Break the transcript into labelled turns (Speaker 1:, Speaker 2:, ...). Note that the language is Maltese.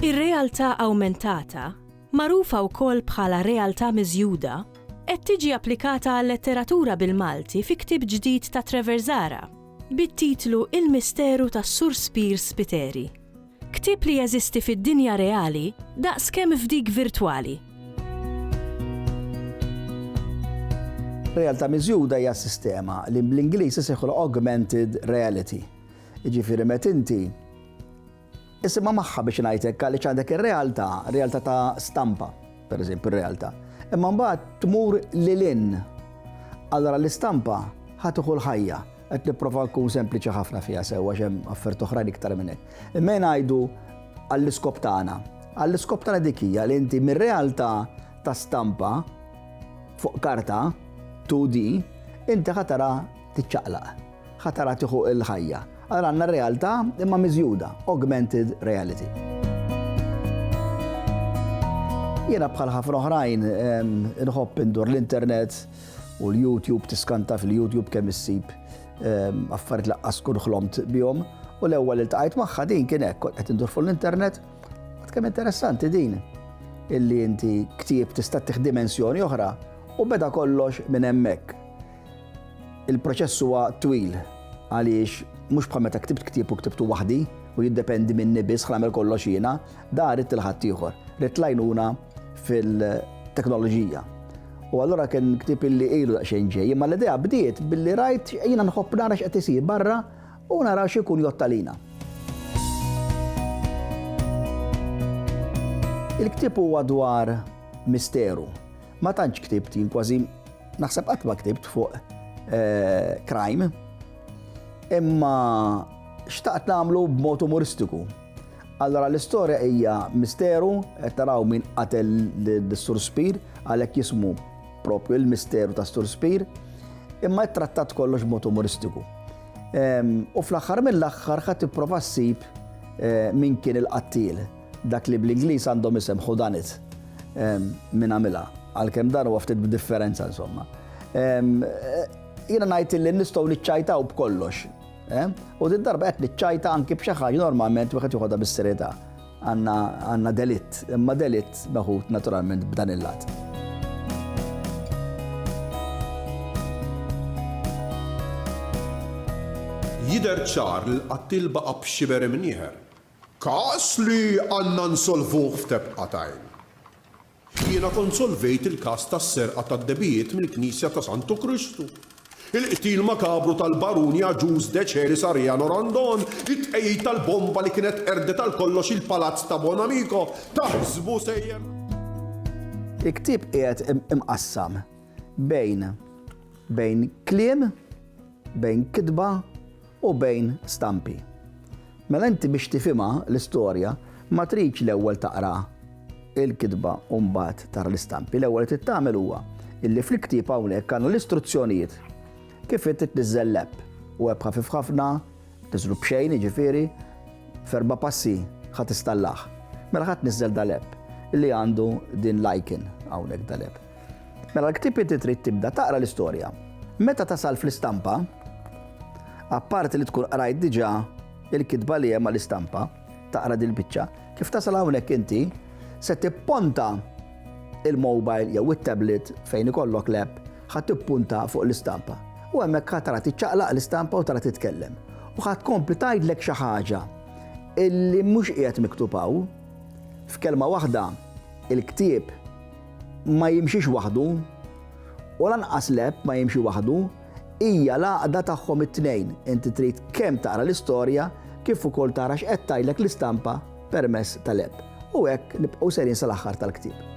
Speaker 1: Ir-realtà awmentata, magħrufa wkoll bħala realtà miżjuda, qed tiġi applikata għal-letteratura bil-Malti fi ktieb ġdid ta' Trevor Zahra, bit-titlu Il-Misteru tas-Sur Spiers Spiteri. Ktieb li jeżisti fid-dinja reali daqs kemm f'dik virtwali.
Speaker 2: Realtà miżjuda hija sistema li bl-Ingliż isejħulha augmented reality. Jiġifieri meta inti isimha magħha biex ngħid hekk għaliex għandek ir-realtà, realtà ta' stampa, pereżempju r-realtà. Imma mbagħad tmur lil in. Allora l-istampa ħatiħu l-ħajja. Qed nipprova nkun sempliċi ħafna fiha sew għax hemm affert oħrajn iktar minn hekk. Imma ngħidu għall-iskop tagħna. Għall-iskop tagħna dik hija li inti mir-realtà ta' stampa fuq karta 2D inti ħatara tiċċaqlaq, ħatara tieħu il-ħajja. Għal għandna realtà imma miżjuda, augmented reality. Jiena bħal ħafna oħrajn inħobb indur l-internet, U l-YouTube, tiskanta fil-YouTube kemm issib affarijiet laqqas tkun ħlomt bihom. U l-ewwel iltqajt magħha din kien hekk, qed indur fuq l-internet. Għad kemm interessanti din illi inti ktieb tista' tieħ dimensjoni oħra u beda kollox minn hemmhekk. Il-proċess huwa twil għaliex mhux bħal meta ktibt ktieb u ktibtu waħdi u jiddependi minni biss ħlamel kollox jiena, Da ridt il-ħaddieħor, ridt l-għajnuna fil-teknoloġija. U allura kien ktib illi ilu daqsxejn ġej, imma l-idea bdiet billi rajt jiena nħobb nara x'qed isir barra u nara x'ikun jottalina. Il-ktib huwa dwar misteru. Ma tantx ktibt jien kważi naħseb qatt ma ktibt fuq eh, crime, imma xtaqt nagħmlu b'mod umoristiku. Allora l-istorja hija misteru, qed taraw min qatel lis-Sur Spir, għalhekk jismu propju il-misteru tas-Sur Spir, imma ttrattat kollox b'mod umoristiku. Ehm, u fl-aħħar mill-aħħar ħadd tipprova ssib eh, min kien il-qattil, dak li bl-Ingliż għandhom isem ħudanit ehm, minn għamilha, għalkemm dan huwa ftit b'differenza insomma. Ehm, eh, jiena ngħid li nistgħu niċċajtaw b'kollox Eh? U din darba qed niċċajta anki b'xi ħaġa normalment wieħed joħodha bis-serjetà. Għandna delitt, imma delitt meħud naturalment b'dan il-lat.
Speaker 3: Jider ċar li l-qattil baqa' b'xiber imnieħer. Każ li għandna nsolvuh f'tebqa tajn. Jiena kont solvejt il-każ tas-serqa tad-debiejiet mill-Knisja ta' Santu Kristu, il-qtil makabru tal-Baruni Agius Decelis Ariano Randon, it-tqegħid tal-bomba li kienet qerdet għal kollox il-palazz ta' Bonamico, taħsbu sejjer.
Speaker 2: Il-ktieb qiegħed imqassam bejn bejn kliem, bejn kitba, u bejn stampi. Mela inti biex tifhimha l-istorja ma tridx l-ewwel taqra il-kitba u mbagħad tara l-istampi. L-ewwel li trid tagħmel huwa illi fl-ktieb hawnhekk għandna l-istruzzjonijiet kif inti tniżżel l-app u app ħafif ħafna, tiżlu b'xejn jiġifieri, ferba passi ħadd istallah. Mela ħadd niżżel dal-app li għandu din l-icon hawnhekk dal-app. Mela l-ktieb inti trid tibda taqra l-istorja. Meta tasal fl-istampa, apparti li tkun qrajt diġà il-kitba li hemm għall-istampa, taqra din il-biċċa, kif tasal hawnhekk inti se tipponta il-mobile jew it-tablet fejn ikollok l-app ħa tippunta fuq l-istampa. U hemmhekk ħa tara tiċċaqlaq l-istampa u tara titkellem. U ħa tkompli tgħidlek xi ħaġa illi mhux qiegħed miktub hawn. F'kelma waħda, il-ktieb ma jimxix waħdu, u lanqas l-App ma jimxi waħdu, hija l-għaqda tagħhom it-tnejn. Inti trid kemm taqra l-istorja kif ukoll tara x'qed tgħidlek l-istampa permezz tal-App. U hekk nibqgħu sejrin sal-aħħar tal-ktieb.